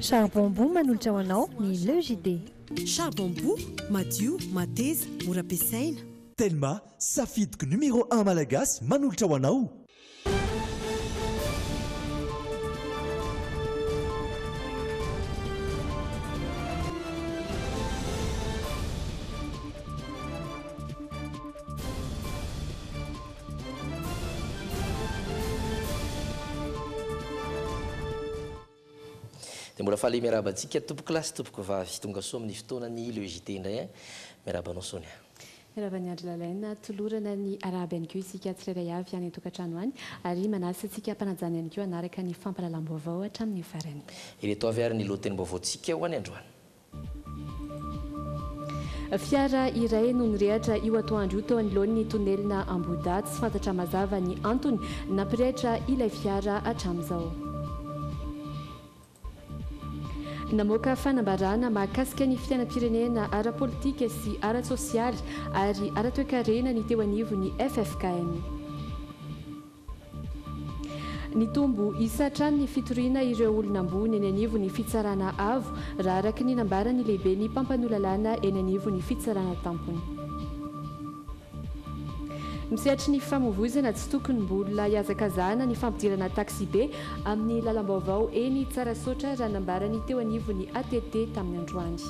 Charbon Boo manolotra ho anao ny Le JD. Charbon Boo, madio, mateza, mora ampiasaina. Telma, safidiko numéro un malagasy manolotra ho anao. Dia mbola faly miarahaba antsika tompokolahy sy tompokovavy tonga soa amin'ny fotoanan'ny le JT indray an! Miarahaba anao Sonia. Miarahaba an'i Andry Lalaina. Tolorana ny arahaba ihany koa isika tsirairay avy any an-tokantrano any ary manasa antsika hampanajana ihany koa hanaraka ny fampahalalam-baovao hatramin'ny farany. Ireto avy ary ny lohatenim-baovaontsika ho any androany. Fiara iray no nirehatra io atoandro io teo anoloan'ny tonelina Ambohidahy. Tsy fantatra mazava ny antony nampirehitra ilay fiara hatramin'izao. Namoaka fanambarana mahakasika ny fiainam-pirenena ara-politika sy ara-tsosialy ary ara-toekarena ny teo anivon'ny ffkm. Nitombo isa hatrany ny fitoriana ireo olona ambony eny anivon'ny Fitsarana Avo, raha araka ny nambaran'ny lehiben'ny mpampanoa lalàna eny anivon'ny Fitsarana Tampony. Misehatry ny fifamoivoizana tsy tokony mbola hihazakazahana ny fampidirana taksibe amin'ny lalam-baovao eny Tsarasaotra, raha nambaran'ny teo anivon'ny ATT tamin'ny androany.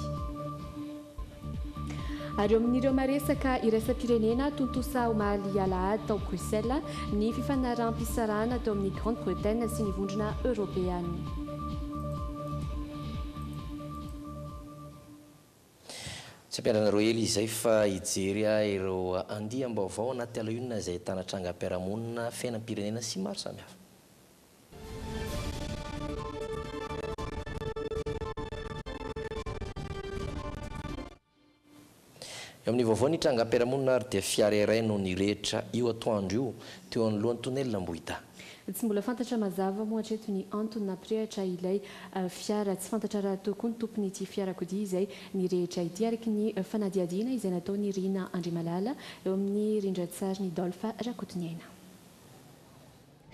Ary eo amin'ireo maresaka iraisam-pirenena tontosa omaly alahady tao Bruxelles ny fifanaraham-pisarahana teo amin'ny Grande Bretagne sy ny Vondrona Eoropeana. Tsy ampiandrareo ela izay fa hijery ahy ireo andiam-baovao anaty alahionina izay ahitana trangam-piarahamonina, fiainam-pirenena sy maro samihafa. Eo amin'ny vaovao ny trangam-piarahamonina ary dia fiara iray no nirehitra io atoandro io teo anoloan'ny tonelina Ambohidahy. Tsy mbola fantatra mazava moa hatreto ny antony nampirehatra ilay fiara. Tsy fantatra rahateo koa ny tompon'ity fiarakodia izay nirehitra ity, araka ny fanadihadiana izay nataon'i Rina Andriamalala eo amin'ny rindran-tsarin'i Dolph Rakotoniaina.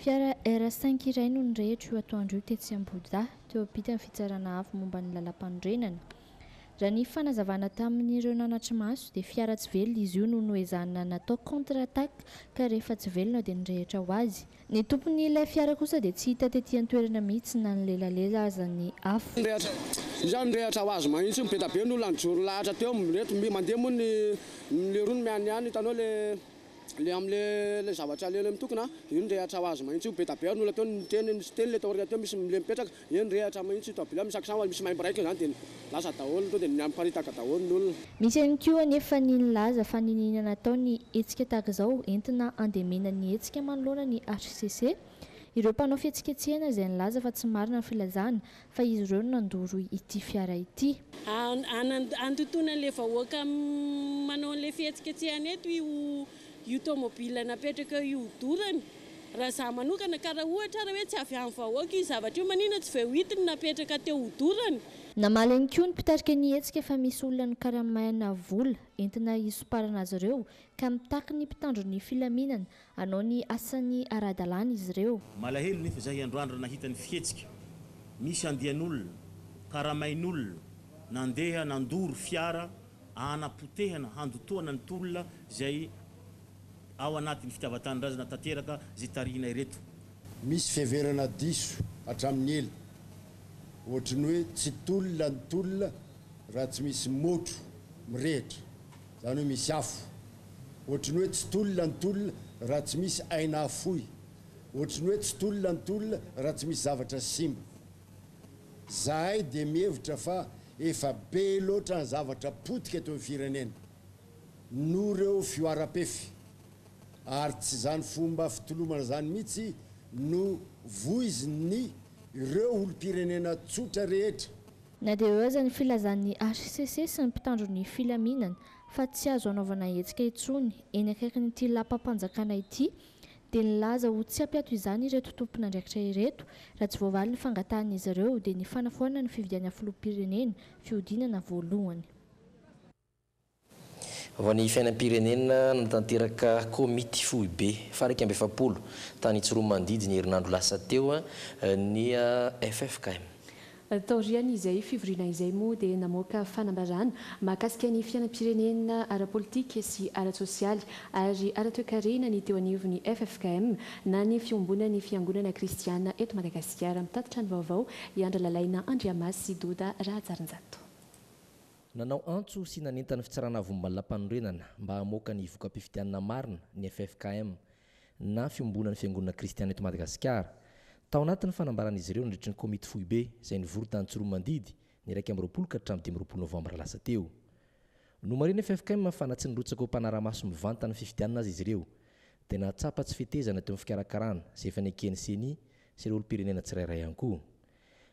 Fiara R5 iray no nirehitra io atoandro io tetsy Ambohidahy, teo ampitan'ny fitsarana avo momba ny lalàmpanorenana. Raha ny fanazavana tamin'ireo nanatri-maso dia fiara tsy velona izy io no noezahana natao contre attaque ka rehefa tsy velona dia nirehitra ho azy. Ny tompon'ilay fiara kosa dia tsy hita tety an-toerana mihitsy na nilelalela aza ny afo. Iza no nirehitra ho azy mahitsy io? Be da be ny olona nijoro lahatra teo. Ireto mandeha moa ny mileroa no mianiany, hitanao ilay. Le am le le zavatra le le mitokona a, io ny rehatra ho azy mahintsy io, be da be ary ny olona teo niteny nisy teny le taoriana teo misy le mipetraka, io ny rehatra mahintsy io toa bila misaksa hoany misy maimbo raika io zany de lasa daholo to de miamiparitaka daholo ny olona. Misy ihany koa anefa ny nilaza fa niniana natao ny hetsika tahaka izao entina handemena ny hetsika manoloana ny hcc. Ireo mpanao fihetsiketsehana izay nilaza fa tsy marina ny filazana fa izy ireo no nandoro ity fiara ity. Handotoana an'ilay vahoaka manao an'ilay fihetsiketsehana eto io tomobile napetraka eo io dorany raha izaho manokana ka raha ohatra ary hoe tsy avy amin'ny vahoaka io zavatra io maninona tsy voahidy ny napetraka teo ho dorany? Namaly ihany koa ny mpitarika ny hetsika fa misy olona nokaramaina vola entina hisomparana azy ireo ka mitaky ny mpitandro ny filaminana Hanao ny asany ara-dalàna izy ireo. Malahelo nefa izahay androany raha nahita ny fihetsika misy andian'olona, karamain'olona, nandeha nandoro fiara hanapotehana, handotoana ny tolona izay ao anatin'ny fitiavan-tanindrazana tanteraka izay tarihina ireto. Misy fiheverana diso hatramin'ny ela, ohatry ny hoe tsy tolona ny tolona raha tsy misy môtro mirehitra. Zany hoe misy afo. Ohatry ny hoe tsy tolona ny tolona raha tsy misy aina afoy. Ohatry ny hoe tsy tolona ny tolona raha tsy misy zavatra simba. Zahay dia mihevitra fa efa be loatra ny zavatra potika eto amin'ny firenena noho ireo fihoaram-pefy ary tsy izany fomba fitolomana izany mihitsy no voizin'ny ireo olom-pirenena tsotra rehetra Na dia eo aza ny filazan'ny hcc sy ny mpitandro ny filaminana fa tsy azo hanaovana hetsika intsony eny akaikin'ity lapam-panjakana ity dia nilaza ho tsy hampiato izany ireto tompon'andraikitra ireto raha tsy voavaly ny fangatahan'izy ireo dia ny fanafoanana ny fividianana filoham-pirenena fihodinana voalohany. Vao ny fiainam-pirenena nanatanteraka komity foibe faha iraika amby efapolo tany Tsiroanomandidy ny herinandro lasa teo ny ffkm. Taorian'izay fivoriana izay moa dia namoaka fanambarana mahakasika ny fiainam-pirenena ara-politika sy ara-tsosialy ary ara-toekarena ny teo anivon'ny ffkm na ny fiombonan'ny fiangonana kristiana eto Madagasikara. Mitatitra ny vaovao i Andralalaina Andriamasy Doda Rahajarinjato. Nanao antso sy nanentana ny Fitsarana Avombany Lampanorenana mba hamoaka ny voka-pifidianana marina ny ffkm na Fiombonan'ny Fiangonana Kristiana eto Madagasikara. Tao anatin'ny fanambaran'izy ireo nandritry ny Komity Foibe izay nivory tany Tsiroanomandidy ny iraika amby roapolo ka hatramin'ny dimy amby roapolo novambra lasa teo. Nomarihin'ny ffkm fa na tsy nirotsaka ho mpanara-maso mivantana ny fifidianana aza izy ireo dia nahatsapa tsy fetezana teo amin'ny fikarakarana izay efa neken'ny Ceni sy ireo olom-pirenena tsirairay ihany koa.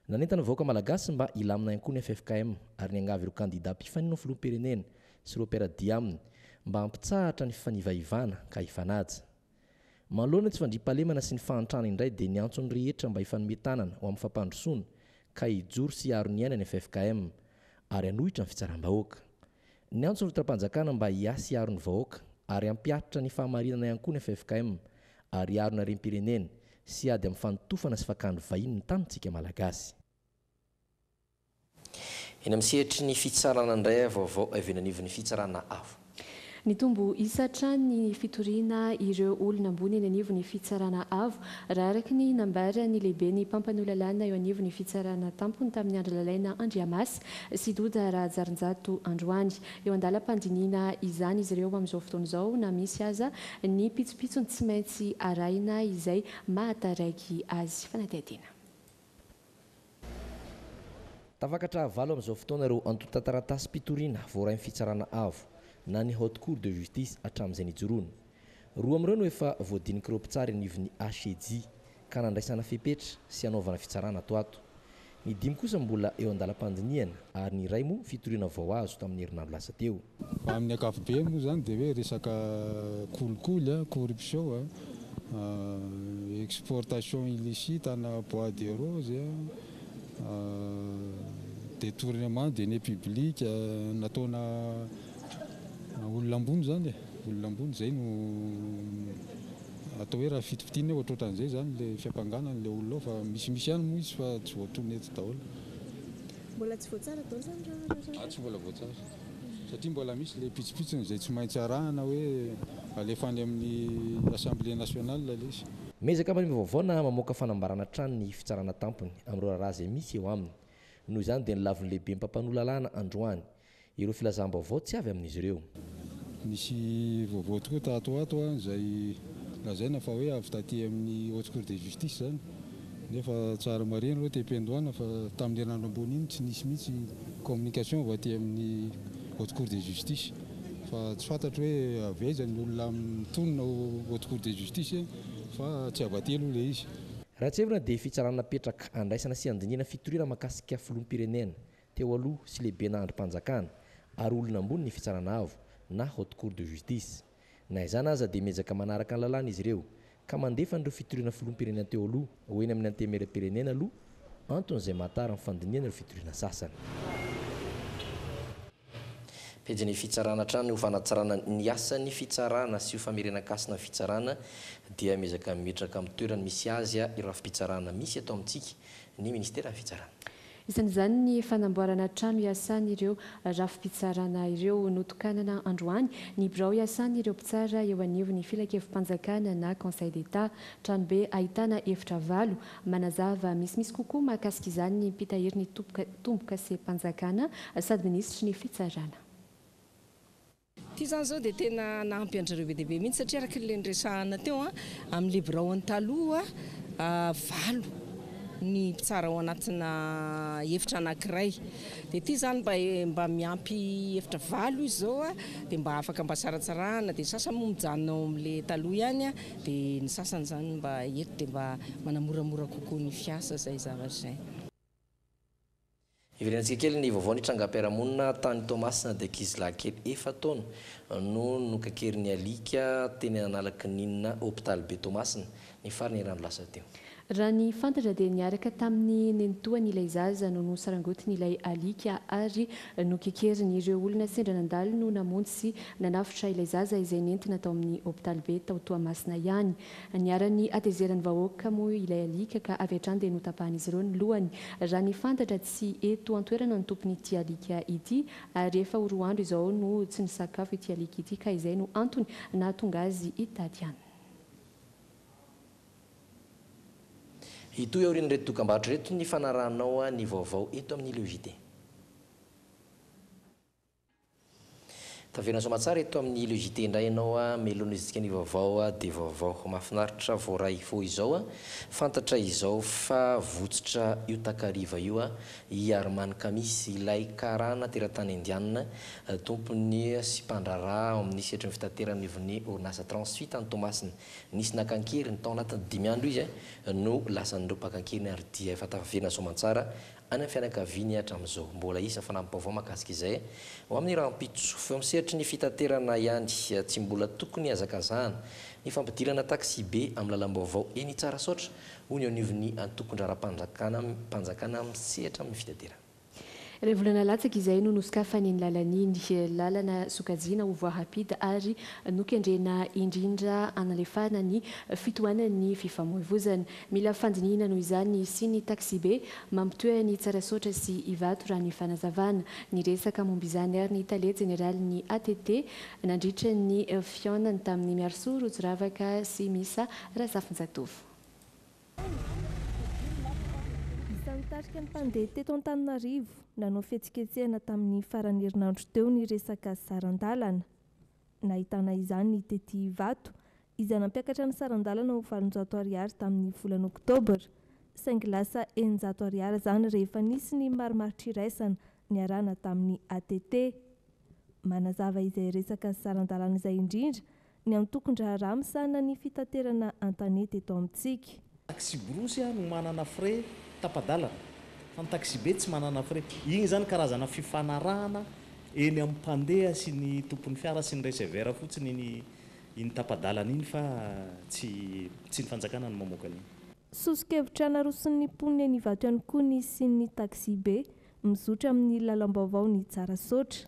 Nanentana ny vahoaka Malagasy mba hilamina ihany koa ny ffkm ary niangavy ireo kandida mpifanina ho filoham-pirenena sy ireo mpiara-dia aminy mba hampitsahatra ny fifanivaivana ka hifanaja. Manoloana ny tsy fandriampahalemana sy ny fahantrana indray dia niantso ny rehetra mba hifanome tanana ho amin'ny fampandrosoana ka hijoro sy hiaro ny aina ny ffkm ary hanohitra ny fitsaram-bahoaka. Niantso ny ultra-mpanjakana mba hiasy hiaro ny vahoaka ary hampiharitra ny fahamarinana ihany koa ny ffkm ary hiaro ny harem-pirenena sy hiady amin'ny fanotofana sy fakàn'ny vahiny ny tanintsika Malagasy. Eny amin'ny sehatry ny fitsarana indray ary vaovao avy eny anivon'ny fitsarana avo. Nitombo isa hatrany ny fitoriana ireo olona ambony eny anivon'ny fitsarana avo, raha araka ny nambaran'ny lehiben'ny mpampanoa lalàna eo anivon'ny fitsarana tampony tamin'ny andro lalaina Andriamas sy Doda Rahajarinjato androany. Eo an-dalam-pandinihina izany izy ireo amin'izao fotoana izao na misy aza ny pitsopitsony tsy maintsy arahina izay mahataraiky azy. Fanadihadiana. Tafakatra valo amin'izao fotoana ireo antontan-taratasim-pitoriana voarain'ny Fitsarana Avo na ny Haute Cour de Justice hatramin'izay nijoroany. Roa amin'ireo no efa voadinik'ireo mpitsara eny anivon'ny HCJ ka nandraisana fepetra sy hanaovana fitsarana ato ho ato. Ny dimy kosa mbola eo an-dalam-pandinihana ary ny iray moa fitoriana vao azo tamin'ny herinandro lasa teo. Raha amin'ny ankapobeny moa izany dia hoe resaka kolikoly, corruption, exportation illicite ana bois de rose, detournement de deniers publics nataona Olona ambony izany e! Olona ambony izay no atao hoe raha fitopitiana hoe ohatrohatran'izay izany ilay fiampangana an'ilay olona ao fa misimisy ihany moa izy fa tsy voatonona eto daholo. Mbola tsy voatsara daholo izany raha raha raha. Tsy mbola voatsara satria mbola misy ilay pitsopitsony izay tsy maintsy arahana hoe alefa any amin'ny Assemblée nationale ilay izy. Miezaka manimba vaovao na mamoaka fanambarana hatrany ny Fitsarana Tampony amin'ireo raharaha izay misy eo aminy. Noho izany dia ny lavon'ny Lehiben'ny mpampanoa lalàna androany Ireo filazam-baovao tsy avy amin'izy ireo. Misy vaovao tokoa tato ho ato izay lazaina fa hoe avy taty amin'ny Haute Cour de Justice izany nefa tsara marihina aloha tepy Andohana fa tamin'ny herinandro ambony iny tsy nisy mihitsy communication avy aty amin'ny Haute Cour de Justice fa tsy fantatro hoe avy aiza ny olona mitonona ao Haute Cour de Justice fa tsy avy aty aloha ilay izy. Raha tsy hevitra dia fitsarana napetraka handraisana sy handinihana fitoriana mahakasika filoham-pirenena teo aloha sy lehibena andrim-panjakana ary olona ambony ny Fitsarana Avo na Haute Cour de Justice. Na izany aza dia miezaka manaraka ny lalàna izy ireo ka mandefa an'ireo fitoriana Filoham-pirenena teo aloha ho eny amin'ny Antenimierampirenena aloha antony izay mahatara ny fandinihana ireo fitoriana sasany. Pejin'ny Fitsarana hatrany ho fanatsarana ny asan'ny Fitsarana sy ho famerenan-kasina ny Fitsarana dia miezaka mimetraka amin'ny toerany misy azy ireo rafi-pitsarana misy eto amintsika ny Ministeran'ny Fitsarana. Isan'izany ny fanamboarana trano iasan'ireo rafi-pitsarana ireo. Notokanana androany ny birao iasan'ireo mpitsara eo anivon'ny Filankevi-panjakana na Conseil d'Etat. Tranobe ahitana efitra valo. Manazava misimisy kokoa mahakasika izany ny mpitahiry ny tombokasempanjakana sady minisitry ny Fitsarana. Ity izany izao dia tena nahampy an-dry zareo be dia be mihitsy satria araka ilay niresahana teo amin'ilay biraony taloha, valo ny mpitsara ao anatina efitra anankiray. Dia ity izany mba mba miampy efitra valo izy izao dia mba afaka mba saratsarahana, dia ny sasany moa mijanona ao amin'ilay taloha ihany, dia ny sasany izany mba eto dia mba manamoramora kokoa ny fiasa izay zavatra izay. Hiverenantsika kely ny vaovao ny trangam-piarahamonina tany Toamasina dia ankizilahy kely efa taona no nokakerin'ny alika teny Analakininina hopitaly be Toamasina ny faran'ny herinandro lasa teo. Raha ny fantatra dia niaraka tamin'ny nenitoany ilay zaza no nosarangotin'ilay alika ary nokekeriny. Ireo olona sendra nandalo no namonjy sy nanafotra ilay zaza izay nentina tao amin'ny hopitaly be tao Toamasina ihany. Niharan'ny hatezeran'ny vahoaka moa ilay alika ka avy hatrany dia notapahan'izy ireo ny lohany. Raha ny fantatra tsy eto an-toerana ny tompon'ity alika ity ary efa ho roa andro izao no tsy nisakafo ity alika ity ka izay no antony nahatonga azy hitady an. Hitohy aorian'ireto dokambarotra ireto ny fanarahanao ny vaovao eto amin'ny Le JT. Tavela soamatsara eto amin'ny le JT indray ianao a, melona izy dikany vaovao a de vaovao. Mahafinaritra voaray vao izao a, fantatra izao fa votsotra io takariva io a, i Arman Kamis, ilay karana teratany indianina, tompony sy mpandraharaha ao amin'ny sehatry ny fitaterana ivon'ny orinasa Transfi tany Toamasina. Nisy naka an-keriny, tao anatin'ny dimy andro izy no lasan'ireo mpaka an-keriny ary dia efa tavela soamatsara Any amin'ny fianakaviany hatramin'izao. Mbola hisy fanampi-baovao mahakasika izay ho amin'ny rahampitso. Eo amin'ny sehatry ny fitaterana ihany, tsy mbola tokony hazakazahana ny fampidirana taxi-be amin'ny lalam-baovao eny Tsarasaotra, hoy ny anivon'ny antokon-draharaham-panjakana mpanjakana misehatra amin'ny fitaterana. Iray volana latsaka izay no nosokafany iny lalana iny. Lalana sokajiana ho voahampita ary nokendrena indrindra hanalefahana ny fitohanan'ny fifamoivoizana. Mila fandinihina noho izany ny hisian'ny taxibe mampitohy an'i Tsarasaotra sy Ivato raha ny fanazavana. Niresaka momba izany ary ny tale jeneralin'ny ATT nandritra ny fihaonany tamin'ny Miarisoa Rotsiravaka sy Misa Razafinjatovo. Isan'ny nitarika ny mpandeha teto Antananarivo nanao fihetsiketsehana tamin'ny faran'ny herinandro teo ny resaka saran-dalana. Nahitana izany ny tety Ivato, izay nampiakatra ny saran-dalana ho valonjato ariary tamin'ny volana oktobra, saingy lasa eninjato ariary izany rehefa nisy ny marimartr'iraisana niarahana tamin'ny ATT. Manazava izay resaka saran-dalana izay indrindra ny antokon-draharaha misahana ny fitaterana an-tanety eto amintsika. Taxi-brousse no manana frais tapa-dalana fa ny taxi-be tsy manana frais. Igny izany karazana fifanarahana eny amin'ny mpandeha sy ny tompon'ny fiara sy ny receveur fotsiny iny iny tapa-dalana iny fa tsy tsy ny fanjakana no mamoaka an'iny. Soso-kevitra naroson'ny mponina eny Ivato ihany koa ny hisian'ny taxi-be mizotra amin'ny lalam-baovao ny Tsarasaotra.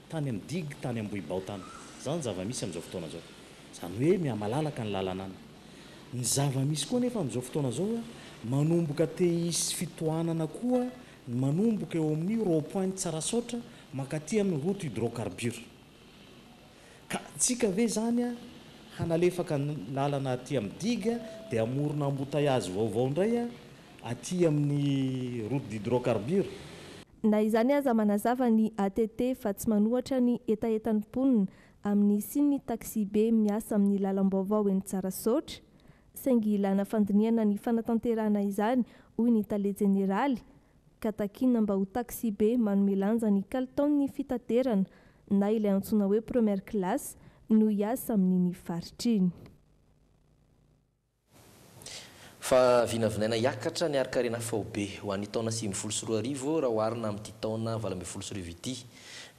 Tany amin'ny digue tany Ambohibao tany. Izany ny zava-misy amin'izao fotoana izao. Izany hoe mihamalalaka ny lalana any. Ny zava-misy koa anefa amin'izao fotoana izao, manomboka te hisy fitohanana koa ny manomboka eo amin'ny rond point Tsarasaotra mankaty amin'ny route hydrocarbures. Ka tsika ve izany hanalefaka ny lalana aty amin'ny digue dia hamorona embouteillage vaovao indray aty amin'ny route d'hydrocarbures. Na izany aza, manazava ny ATT fa tsy manohatra ny hetahetan'ny mponina amin'ny hisian'ny taxi-be miasa amin'ny lalam-baovao eny Tsarasaotra, saingy ilàna fandinihana ny fanatanterahana izany, hoy ny tale jeneraly, ka takiana mba ho taxi-be manome lanja ny kalitaon'ny fitaterana na ilay antsoina hoe première classe no hiasa amin'iny faritra iny. Fa vinavinaina hiakatra ny harin-karena faobe ho an'ny taona sivy ambin'ny folo sy roa arivo raha oharina amin'ity taona valo ambin'ny folo sy roa arivo ity.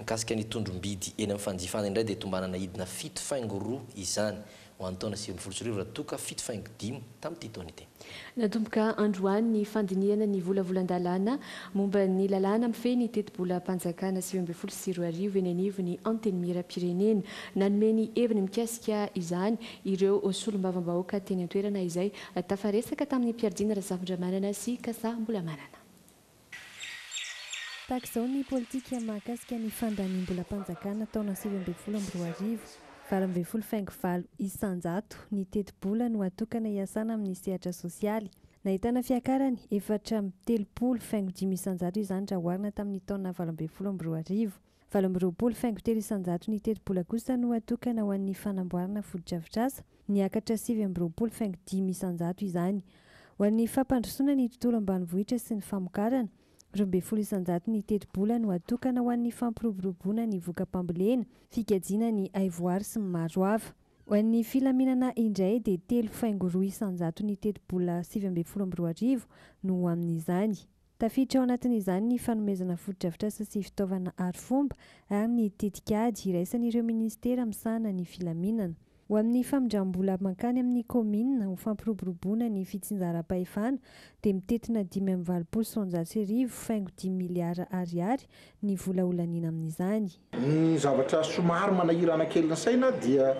Mikasika ny tondrombidy eny amin'ny fanjifana indray dia tombanana hidina fito faingo roa izany ho an'ny taona sivy ambin'ny folo sy roa arivo raha toa ka fito faingo dimy tamin'ity taona ity. Natomboka androany ny fandinihana ny volavolan-dalàna momba ny lalàna mifehy ny tetibolam-panjakana sivy ambin'ny folo sy roa arivo eny anivon'ny Antenimierampirenena. Nanome ny heviny mikasika izany ireo solombavambahoaka teny an-toerana izay tafaresaka tamin'ny mpiardiana Razafindramanana sy Kasa Mbolamanana. Tahaka izao ny politika mahakasika ny fandaniam-bolam-panjakana taona sivy ambin'ny folo amby roa arivo, valo ambin'ny folo faingo valo isan-jato ny tetibola no atokana hiasana amin'ny sehatra sosialy. Nahitana fiakarany efatra amby telopolo faingo dimy isan-jato izany raha oharina tamin'ny taona valo ambin'ny folo amby roa arivo. Valo amby roapolo faingo telo isan-jato ny tetibola kosa no atokana ho an'ny fanamboarana fotodrafitrasa, niakatra sivy amby roapolo faingo dimy isan-jato izany. Ho an'ny fampandrosoana ny tontolo ambanivohitra sy ny famokarana, roa ambin'ny folo isan-jato ny tetibola no atokana ho an'ny fampiroboroboana ny voka-pambolena, fikajiana ny haivoary sy ny maro hafa. Ho an'ny filaminana indray dia telo faingo roa isan-jato ny tetibola sivy ambin'ny folo amby roa arivo no ho amin'izany. Tafiditra ao anatin'izany ny fanomezana fotodrafitrasa sy fitaovana arifomba ary ny tetikady iraisan'ireo minisitera misahana ny filaminana. Ho amin'ny famindram-bola mankany amin'ny kaominina ho fampiroboroboana ny fitsinjaram-pahefana dia mitentina dimy amby valopolo sy roanjato sy arivo faingo dimy miliara Ariary ny vola holaniana amin'izany. Ny zavatra somary manahirana kely ny saina dia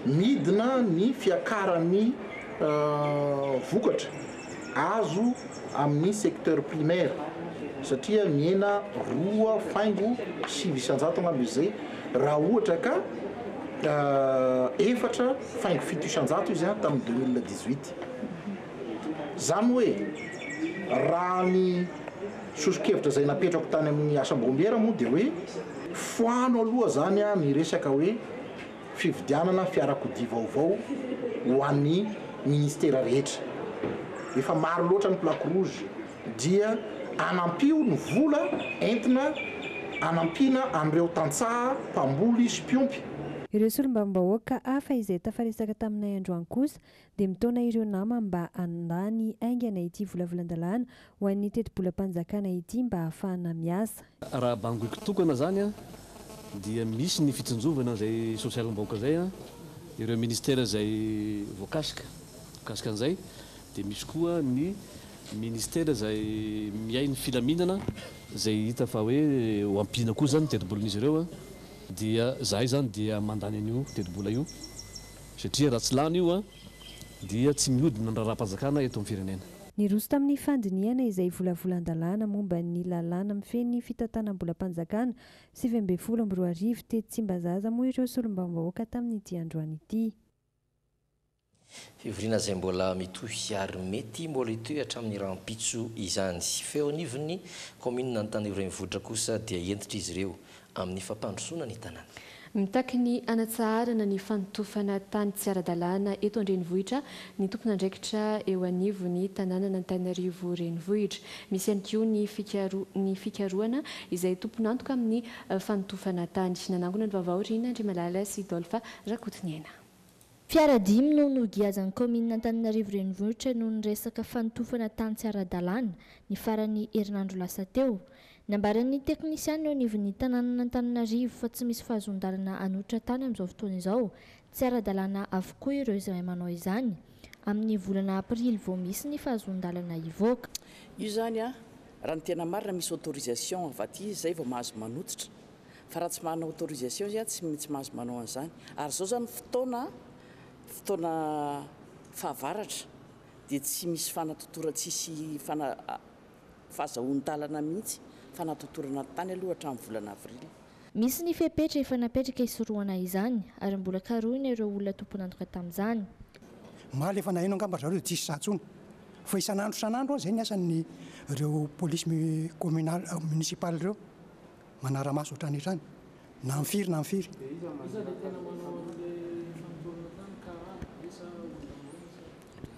midina ny fiakaran'ny vokatra azo amin'ny secteur primaire satria mihena roa faingo sivy isan-jato angamba izy izay raha ohatra ka efatra faingo fito isan-jato izy tamin'ny deux mille dix-huit. Izany hoe, raha ny sosokevitra izay napetrako tany amin'ny asam-boambiera moa dia hoe, foano aloha izany ny resaka hoe fividianana fiarakodia vaovao ho an'ny ministera rehetra. Efa maro loatra ny plaque rouge dia anampio ny vola entina anampiana an'ireo tantsaha mpamboly sy mpiompy. Ireo solombavambahoaka hafa izay tafaresaka taminay androany kosa dia mitaona ireo namany mba handany haingana ity volavolan-dalàna ho an'ny tetibolam-panjakana ity mba hahafahana miasa. Raha bangoiko tokana izany dia misy ny fitsinjovana izay sosialim-bahoaka izay, ireo ministera izay voakasika mikasika an'izay, dia misy koa ny ministera izay miahy ny filaminana izay hita fa hoe ho ampiana koa izany ny tetibolan'izy ireo dia izahay izany dia mandany an'io tetibola io. Satria raha tsy lany io dia tsy mihodina ny raharaham-panjakana eto amin'ny firenena. Niroso tamin'ny fandinihana izay volavolan-dalàna momba ny lalàna mifehy ny fitantanam-bolam-panjakana sivy ambin'ny folo amby roa arivo tetsy Tsimbazaza moa ireo solombavambahoaka tamin'ity androany ity. Fivoriana izay mbola mitohy ary mety mbola hitohy hatramin'ny rahampitso izany. Feo anivon'ny kaominina Antanio renivohitra kosa dia hentitra izy ireo amin'ny fampandrosoana ny tanàna. Mitaky ny hanatsaharana ny fanotofana tany tsy ara-dalàna eto an-drenivohitra ny tompon'andraikitra eo anivon'ny tanànan'Antananarivo Renivohitra. Misy ihany koa ny fikaro ny fikarohana izay tompon'antoka amin'ny fanotofana tany. Nanangona ny vaovao Rina Andriamalala sy Dolpha Rakotoniaina. Fiara dimy no nogiazan'ny kaominina Antananarivo Renivohitra noho ny resaka fanotofana tany tsy ara-dalàna, ny faran'ny herinandro lasa teo. Nambaran'ny teknisiana eo anivon'ny tanànan'Antananarivo fa tsy misy fahazoan-dalana hanototra tany amin'izao fotoana izao. Tsy ara-dalàna avokoa ireo izay manao izany. Amin'ny volana aprily vao misy ny fahazoan-dalana hivoaka. Io izany, raha ny tena marina, misy autorisation avy aty, izay vao mahazo manototra. fa raha tsy manana autorisation izy tsy tsy mahazo manao an'izany ary zao zany fotoana fotoana fahavaratra dia tsy misy fanatotora tsisy fana fahazahoan-dalana mihitsy fanatotorana ny tany aloha hatramin'ny volana avril. Misy ny fepetra efa napetraka hisorohana izany ary mbola karohina ireo olona tompon'antoka tamin'izany. Omaly efa naheno angamba ry zareo dia tsisy za tsony fa isan'andro isan'andro an izay ny asan'ny ireo police mi communal municipal ireo manara-maso hatrany hatrany na amin'ny firy na amin'ny firy.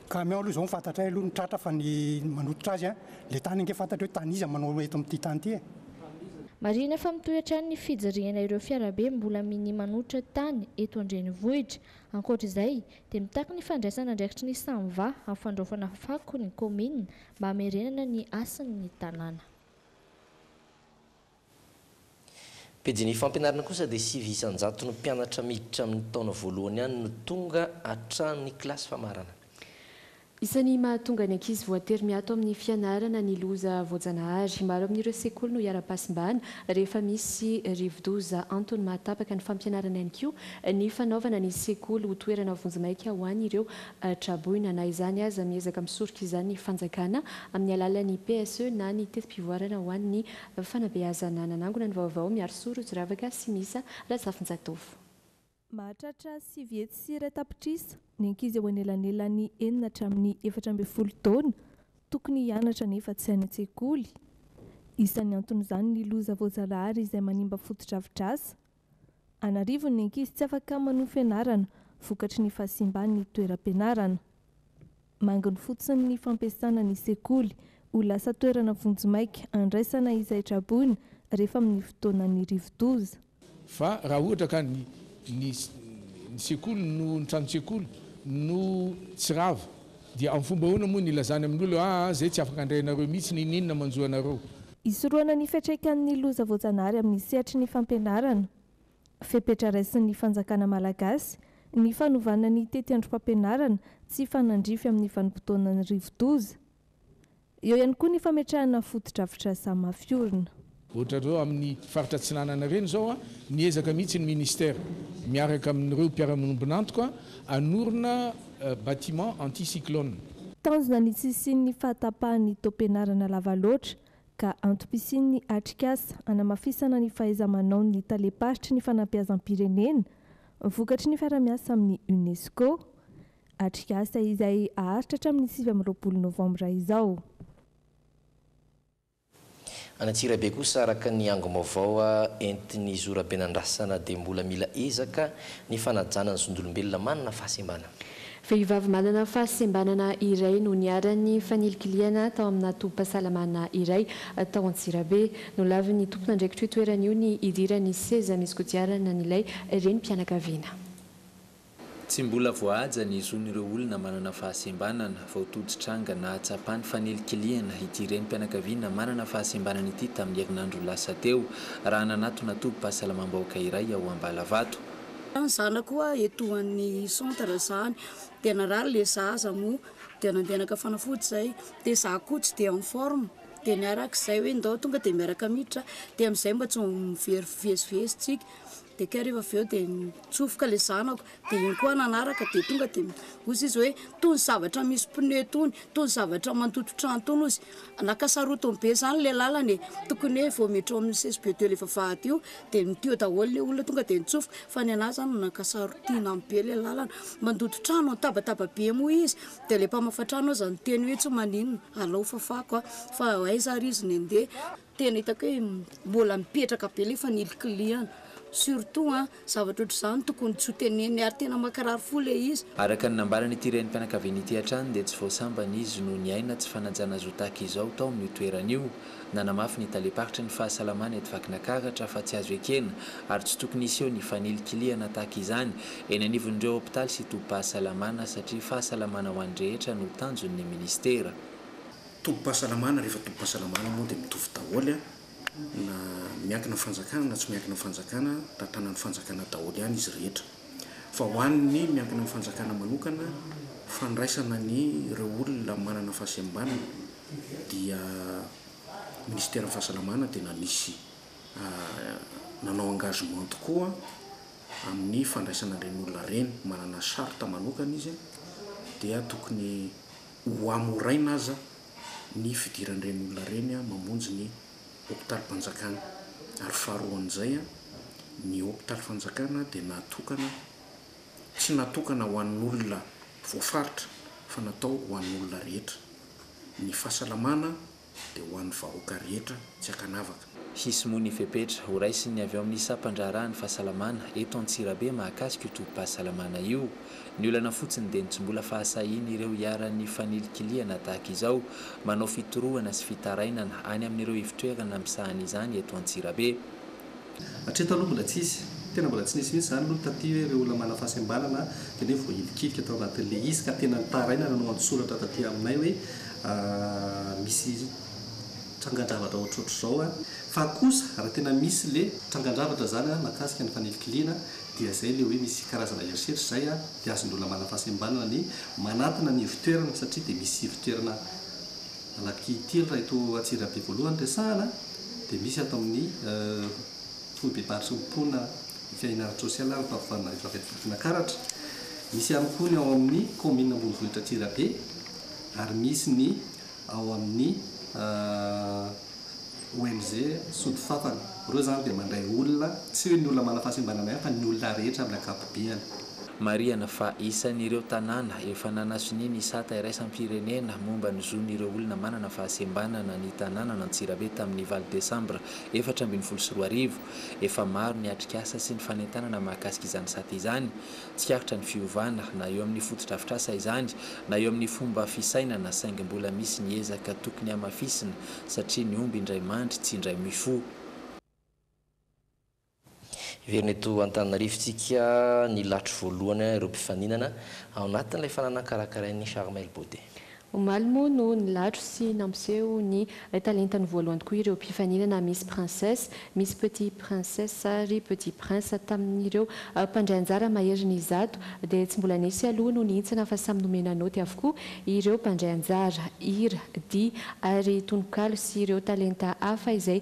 Camion aloha izao ny fantatray aloha ny tratra fa ny manototra azy ilay tany ange fantatra hoe tany iza manao eto amin'ity tany ity e. Marihina fa mitohy hatrany ny fijirihana ireo fiarabe mbola minia manototra tany eto an-drenivohitra. Ankoatra izay dia mitaky ny fandraisana andraikitry ny Samva amin'ny fandraofana fako ny kaominina mba hamerenana ny hasin'ny tanàna. Pejin'ny fampianarana kosa dia sivy isan-jato ny mpianatra miditra amin'ny taona voalohany ihany no tonga hatramin'ny kilasy famarana. Isan'ny mahatonga ny ankizy voatery miato amin'ny fianarana ny loza voajanahary. Maro amin'ireo sekoly no hiharam-pahasimbana rehefa misy rivodoza. Antony mahatapaka ny fampianarana ihany koa ny fanaovana ny sekoly ho toerana vonjimaika ho an'ireo Traboina. Na izany aza, miezaka misoroka izany ny fanjakana amin'ny alalan'ny PSE na ny teti-pivoarana ho an'ny fanabeazana. Nanangona ny vaovao Miarisora Otsiravaka sy Misa Razafinjatovo. Mahatratra sivy hetsy sy iray tapitrisa ny ankizy eo anelanelan'ny enina hatramin'ny efatra ambin'ny folo taona tokony hianatra nefa tsy any an-tsekoly. Isan'ny anton'izany ny loza voajanahary izay manimba fotodrafitrasa An'arivony ny ankizy tsy afaka manohy fianarana vokatry ny fahasimban'ny toeram-pianarana. Manginy fotsiny ny fampiasana ny sekoly ho lasa toerana vonjimaika handraisana izay traboina rehefa amin'ny fotoanan'ny rivodoza. Fa raha ohatra ka ny ny ny sekoly no ny tranon-tsekoly no tsy rava Dia amin'ny fomba ahoana moa no ilazany amin'olona hoe, aa, izay tsy afaka handray anareo mihitsy, n'inon'inona manjo anareo? Hisorohana ny fiantraikan'ny loza voajanahary amin'ny sehatry ny fampianarana, fepetra raisin'ny fanjakana malagasy, ny fanovana ny tetiandrom-pampianarana tsy hifanandrify amin'ny vanim-potoanan'ny rivodoza. Eo ihany koa ny fametrahana fotodrafitrasa mafy orina. Ohatrareo amin'ny faritra atsinanana ireny izao, niezaka mihitsy ny Ministera miaraka amin'ireo mpiara-miombon'antoka hanorina bâtiment anti-cyclone. Tanjona ny tsy hisian'ny fahatapahan'ny taom-pianarana lava loatra ka antom-pisian'ny atrikasa hanamafisana ny fahaiza-manaon'ny talem-paritry ny fanabeazam-pirenena vokatry ny fiarahamiasa amin'ny UNESCO, Atrikasa izay haharitra hatramin'ny sivy amby roapolo novambra izao. Any Antsirabe kosa araka ny angom-baovao entin'ny zoraben'andrasana dia mbola mila ezaka ny fanajana ny zondolombelona manana fahasembana. Vehivavy manana fahasembanana iray no niharan'ny fanilikilihana tao amina tobim-pahasalamana iray tao Antsirabe. Nolavin'ny tompon'andraikitr'io toerana io ny hidiran'ny seza misy kodiarana an'ilay renim-pianakaviana. Tsy mbola voahaja ny zon'ireo olona manana fahasembanana vao tojo tranga nahatsapa ny fanilikilihana ity renim-pianakaviana manana fahasembanana ity tamin'ny herinandro lasa teo, raha nanatona tobim-pahasalamam-bahoaka iray ao Ambalavato. Raha ny zanako hoa eto any centre zany dia narary le zaza moa dia nandehanaka fanafody zay dia za koa tsy dia en forme dia niaraka zay hoe ndao tonga dia miaraka miditra dia amizay mba tsy mivezivezy tsika dia kay rehefa avy eo dia nitsofoka ilay zanako dia iny koa nanaraka dia tonga dia hozy izy hoe toy ny zavatra misy pneu tony toy ny zavatra mandoto trano tony hozy naka sarotiny be zany ilay lalana e tokony hoe vao miditra ao amin'ny CSB de ilay vavahady io dia niteo daholo ilay olona tonga dia nitsofoka fa ny anah zany naka sarotina be ilay lalana mandoto trano nitabataba be moa izy dia ilay mpamafa trano aza niteny hoe tsy maninona alao fafako aho fa aiza ary izy ny andeha Tena hitako hoe mbola mipetraka be ilay fanilikilihana. Surtout an, zavatra ohatr'izany tokony tsy ho tenenina ary tena mankirary fo ilay izy. Araka ny nambaran'ity renim-pianakaviana ity hatrany dia tsy vao sambany izy no niaina tsy fanajana zo tahaka izao tao amin'io toerana io. Nanamafy ny talem-paritry ny fahasalamana eto Vakinakaratra fa tsy azo ekena ary tsy tokony hiseho ny fanilikilihana tahaka izany eny anivon'ireo hopitaly sy tobim-pahasalamana satria fahasalamana ho an'ny rehetra no tanjon'ny minisitera. Tobim-pahasalamana rehefa tobim-pahasalamana moa dia mitovy daholo an, na miankina amin'ny fanjakana na tsy miankina amin'ny fanjakana, tantanan'ny fanjakana daholo ihany izy rehetra. Fa ho an'ny miankina amin'ny fanjakana manokana, fandraisana an'ireo olona manana fahasembanana dia minisiteran'ny fahasalamana dia nanisy nanao engagement tokoa amin'ny fandraisana ireny olona ireny, manana charte manokana izy dia tokony Ho hamoraina aza ny fidiran'ireny olona ireny mamonjy ny hopitalim-panjakana. Ary faharoan'izay, ny hopitaly fanjakana dia natokana, tsy natokana ho an'olona voafaritra fa natao ho an'olona rehetra. Ny fahasalamana dia ho an'ny vahoaka rehetra tsy ankanavaka. Hisy moa ny fepetra horaisin'ny avy ao amin'ny sampan-draharahan'ny fahasalamana eto Antsirabe mahakasika io tobim-pahasalamana io. Ny olana fotsiny dia ny tsy mbola fahasahian'ireo iharan'ny fanilikilihana tahaka izao manao fitorohana sy fitarainana any amin'ireo ivotrerana misahana izany eto Antsirabe. Hatreto aloha mbola tsisy. Tena mbola tsy nisy mihitsy izany aloha taty hoe ireo olona manana fahasembanana dia hoe voahilikilika tao anatin'ilay izy ka tena nitaraina nanao an-tsoratra taty aminay hoe misy trangan-javatra ohatrohatr'izao fa kosa raha tena misy ilay trangan-javatra izany mahakasika ny fanilikiliana dia izay ilay hoe misy karazana herisetra izay dia azon'ny olona manana fahasembanana ny manatona ny ivon-toerana satria dia misy ivon-toerana Anakiteny raha eto Antsirabe voalohany resahana dia misy ato amin'ny foibebaritry ny mponina ny fiahiana ara-tsosialy ary ny fampivahana rehefa avy ato Vakinakaratra. Misy ihany koa ny ao amin'ny kaominina ambonivohitra Antsirabe ary misy ny ao amin'ny ONG Sodifafana. Ireo izany dia mandray olona, tsy hoe ny olona manam-pahasembanana ihany fa ny olona rehetra amin'ny ankapobeany. Marihana fa isan'ireo tanàna efa nanasonia ny sata iraisam-pirenena momba ny zon'ireo olona manana fahasembanana ny tanànan'Antsirabe tamin'ny valo desambra efatra ambin'ny folo sy roa arivo. Efa maro ny atrikasa sy ny fanentanana mahakasika izany sata izany. Tsikaritra ny fiovana na eo amin'ny fotodrafitrasa izany na eo amin'ny fomba fisainana saingy mbola misy ny ezaka tokony hamafisina satria ny omby indray mandry tsy indray mifoha. Heverina eto Antananarivo tsika nilatro voalohany ireo mpifaninana ao anatin'ilay fananana karakarain'ny Charmel Beauté. Omaly moa no nilatro sy nampiseho ny talentany voalohany tokoa ireo mpifaninana Miss Princesse, Miss Petit Princesse ary Petit Prince. Tamin'ireo mpandray anjara maherin'ny zato dia tsy mbola nisy aloha no nihintsana fa samy nomena naoty avokoa ireo mpandray anjara. Hira, dihy ary tononkalo sy ireo talenta hafa izay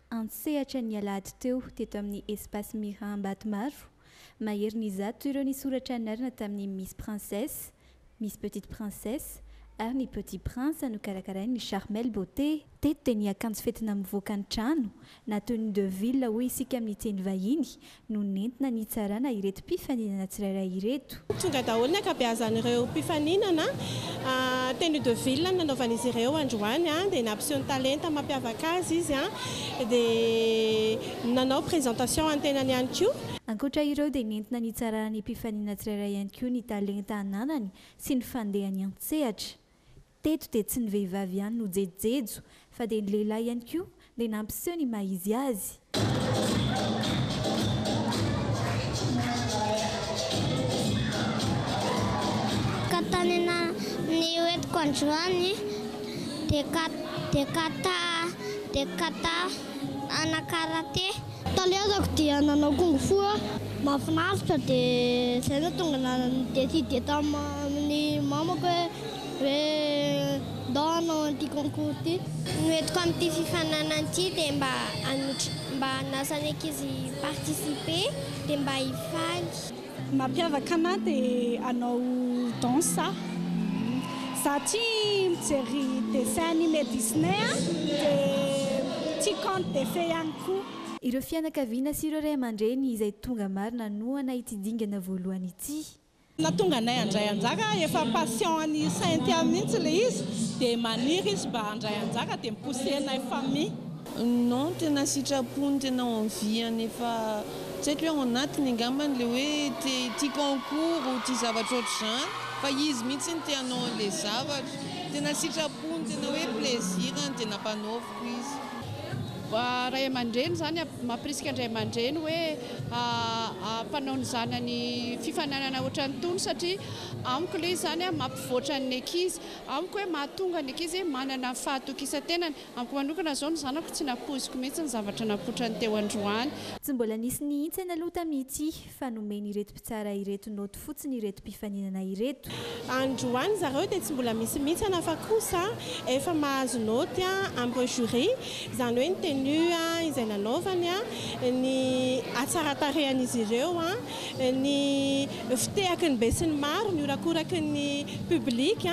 an-tsehatra ny alahady teo teto amin'ny Espace Mira Ambatomaro. Maherin'ny izato ireo nisoratra anarana tamin'ny Miss Princesse, Miss Petite Princesse ary ny Petit Prince nokarakarain'ny Charmel Beauté. Teto dia ny akanjo fetina mivoaka ny trano, na tenue de ville hoy isika amin'ny teny vahiny, no nentina nitsarana ireto mpifaninana tsirairay ireto. Tonga daholo ny ankabeazan'ireo mpifaninana tenue de ville nanaovan'izy ireo androany dia nampiseho ny talenta mampiavaka azy izy dia nanao présentation an'ny tenany ihany koa. Ankoatra ireo dia nentina nitsarana ny mpifaninana tsirairay ihany koa ny talenta ananany sy ny fandehany an-tsehatra. Teto dia tsy ny vehivavy ihany no jejojejo fa dia ny lehilahy ihany koa dia nampiseho ny maha izy azy. Ka tany ananan'ny ho entiko androany dia ka dia ka ta dia ka ta ana karate. Talezako dia nanao kung fu aho. Mahafinaritra dia izay no tonga na ni-decide tamin'ny mamako hoe. Ve ndao hanao an'ity concours ity? Ny hoentiko amin'ity fifaninanana ity dia mba hanotra, mba hanasa ny ankizy hi-participer dia mba hifaly. Ny mampiavaka anah dia hanao danse aho. Za tia mijery dessin anime Disney dia tia conte de fée ihany koa. Ireo fianakaviana sy ireo ray aman-dreny izay tonga maro nanohana ity dingana voalohany ity. Nahatonga anay handray anjara, efa passion an'i Cynthia mihitsy ilay izy, dia maniry izy mba handray anjara, dia mi-pousser anay famille. Non, tena sitrapony, tena envie-ny, efa tsy haiko hoe ao anatiny angambany ilay hoe te hitia concours ou tia zavatra ohatr'izany, fa izy mihitsy no te hanao an'ilay zavatra, tena sitrapony, tena hoe plaisir-ny, dia nampanaoviny. hoy izy. Ray aman-dreny izany mampirisika an-dray aman-dreny hoe hampanao ny zanany fifaninanana ohatran'itony satria amiko aloha izy izany mampivoatra ny ankizy. Amiko hoe mahatonga ny ankizy hoe manana ny fahatokisan-tenany. Amiko manokana izao ny zanako tsy nampoiziko mihitsy ny zavatra nampotran'ny teo androany. Tsy mbola nisy nihintsana aloha tamin'ity. Nety fa nomen'ireto mpitsara ireto naoty fotsiny ireto mpifaninana ireto. Androany zareo dia tsy mbola misy mitsana fa kosa efa mahazo naoty ampy jury, izany hoe ny tenue izay nanaovany, ny hatsaratarehan'izy ireo, ny fitehaky ny besinimaro, ny horakoraky ny public.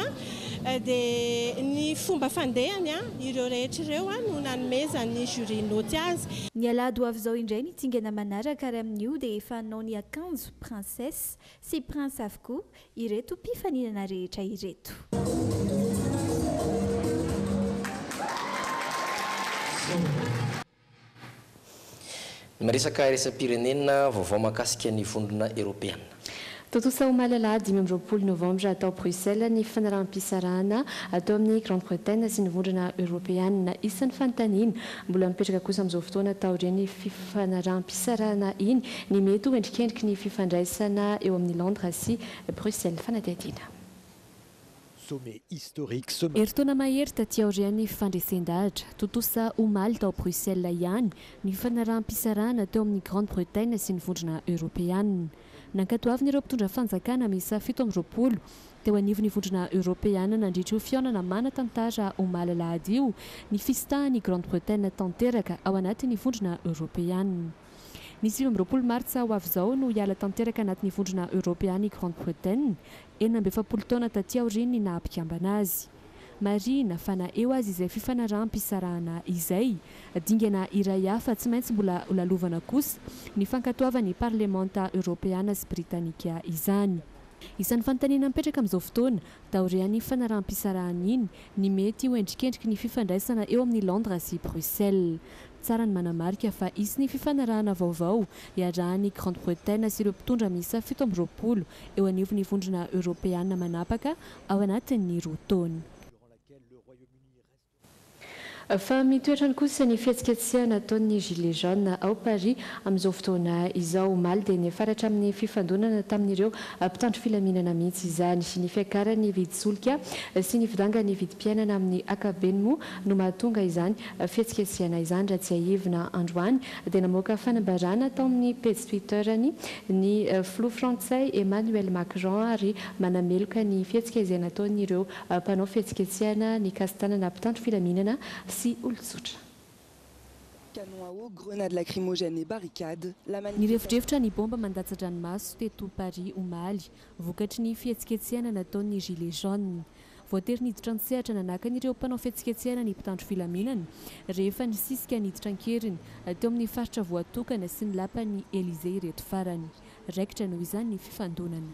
Dia ny fomba fandehany ireo rehetra ireo no nanomezan'ny jury naoty azy. Ny alahady ho avy izao indray ny dingana manaraka ary amin'io dia efa hanao ny akanjo princesse sy prince avokoa ireto mpifaninana rehetra ireto. Miresaka iraisam-pirenena, vaovao mahakasika ny Vondrona Eoropeana. Tontosa omaly alahady dimy amby roapolo novambra tao Bruxelles ny fanaraham-pisarahana atao amin'i Grande Bretagne sy ny Vondrona Eoropeana. Isan'ny fanontaniana mbola mipetraka kosa amin'izao fotoana taorian'ny fifanaraham-pisarahana iny ny mety ho endrikendriky ny fifandraisana eo amin'i Londres sy Bruxelles. Fanadihadiana. Herintaona mahery taty aorian'ny fandresen-dahatra, tontosa omaly tao Bruxelles ihany, ny fifanaraham-pisarahana teo amin'ny Grande-Bretagne sy ny Vondrona Eoropeana. Nankatoavina ireo mpitondra fanjakana miisa fito amby roapolo teo anivon'ny Vondrona Eoropeana nandritra io fihaonana manan-tantara omaly alahady io ny fisitahan'i Grande-Bretagne tanteraka ao anatin'ny Vondrona Eoropeana. Ny sivy amby roapolo martsa ho avy izao no hiala tanteraka anatin'ny Vondrona Eoropeana i Grande-Bretagne, enina amby efapolo taona taty aorian'ny naha mpikambana azy. Marihina fa na eo aza izay fifanaraham-pisarahana izay, dingana iray hafa tsy maintsy mbola holalovana kosa ny fankatoavan'ny Parlemanta Eoropeana sy Britanika izany. Isan'ny fanontaniana mipetraka amin'izao fotoana, taorian'iny fifanaraham-pisarahana iny, ny mety ho endrikendriky ny fifandraisana eo amin'i Londres sy Bruxelles. Tsara ny manamarika fa hisy ny fifanarahana vaovao iarahan'i Grande Bretagne sy ireo mpitondra miisa fito amby roapolo eo anivon'ny Vondrona Eoropeana manapaka ao anatin'ny roa taona. Fa mitoetrany kosa ny fihetsiketsehana ataon'ny Gilets jaunes ao Paris amin'izao fotoana izao. Omaly dia niafaratra amin'ny fifandonana tamin'ireo mpitandro filaminana mihitsy izany. Ny fiakaran'ny vidin-tsolika sy ny fidangan'ny vidim-piainana amin'ny akabeny moa no mahatonga izany fihetsiketsehana izany raha tsiahivina androany dia namoaka fanambarana tao amin'ny pejy Twitter-ny ny filoha frantsay Emmanuel Macron ary manameloka ny fihetsika izay nataon'ireo mpanao fihetsiketsehana nikasi-tanana mpitandro filaminana sy olon-tsotra. Nirefodrefotra ny baomba mandatsa-dranomaso teto Paris omaly, vokatry ny fihetsiketsehana nataon'ny Gilets jaunes. Voatery niditra an-tsehatra nanakana ireo mpanao fihetsiketsehana ny mpitandro filaminana, rehefa nisisika niditra an-keriny teo amin'ny faritra voatokana sy ny lapan'ny Elysée ireto farany. Raikitra noho izany ny fifandonana.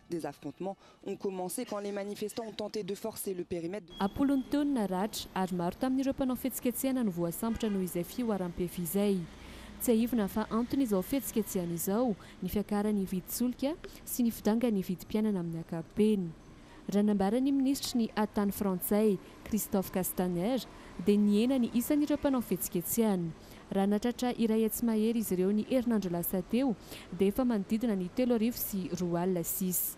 Des affrontements ont commencé quand les manifestants ont tenté de forcer le périmètre de. Am-polony teo ny naratra ary maro tamin'ireo mpanao fihetsiketsehana no voasambotra noho izay fihoaram-pefy izay. Tsiahivina fa anton'izao fihetsiketsehana izao ny fiakaran'ny vidin-tsolika sy ny fidangan'ny vidim-piainana amin'ny ankapobeny. Raha nambaran'ny minisitry ny Haha tany frantsay, Christophe Castaner, dia nihena ny isan'ireo mpanao fihetsiketsehana. Raha natratra iray hetsy mahery izy ireo ny herinandro lasa teo, dia efa manodidina ny telo arivo sy roa alina sisa.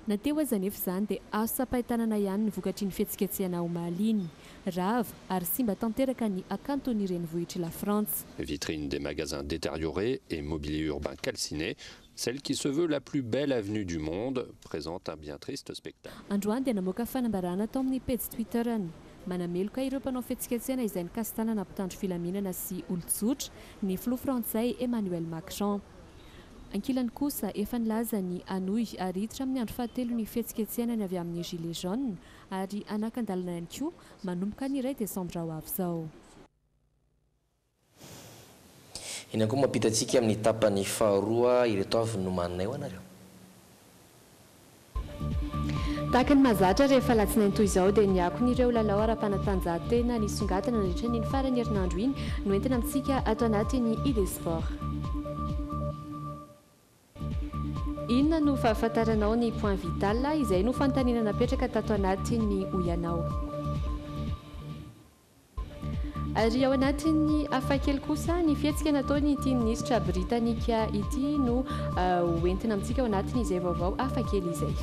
Na teo aza anefa izany, dia azo tsapain-tanana ihany ny vokatr'iny fihetsiketsehana omaly iny. Rava ary simba tanteraka ny hakanton'ny renivohitr'i Lafrantsa. Vitrines des magasins détériorées et mobilier urbain calciné, Celle qui se veut la plus belle avenue du monde présente un bien triste spectacle. Androany dia namoaka fanambarana tao amin'ny pejy Twitter-ny. Manameloka ireo mpanao fihetsiketsehana izay nikasi-tanana mpitandro filaminana sy olon-tsotra ny filoha frantsay Emmanuel Macron. Ankilany kosa, efa nilaza ny hanohy ary hiditra amin'ny andro fahatelo ny fihetsiketsehana ny avy amin'ny Gilets jaunes ary hanakan-dalana ihany koa manomboka ny iray desambra ho avy izao. Eny ankoho mampita antsika amin'ny tapany faharoa ireto avy nomaninay ho anareo. Tahaka ny mahazatra rehefa alatsinainy toy izao dia ny akony ireo lalao ara-panatanjahantena nisongadina nandritra ny iny faran'ny herinandro iny no entina amintsika ato anatin'ny Idesport. Inona no fahafantaranao ny point vital? Izay no fanontaniana napetraka tato anatin'ny Hoy Ianao. Ary ao anatin'ny hafakely kosa, ny fihetsika nataon'ity minisitra britanika ity no ho entina amintsika ao anatin'izay vaovao hafakely izay.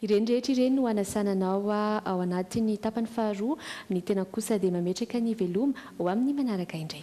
Ireny rehetra ireny no hanasana anao ao anatin'ny tapany faharoa, ny tenako kosa dia mametraka ny veloma ho amin'ny manaraka indray.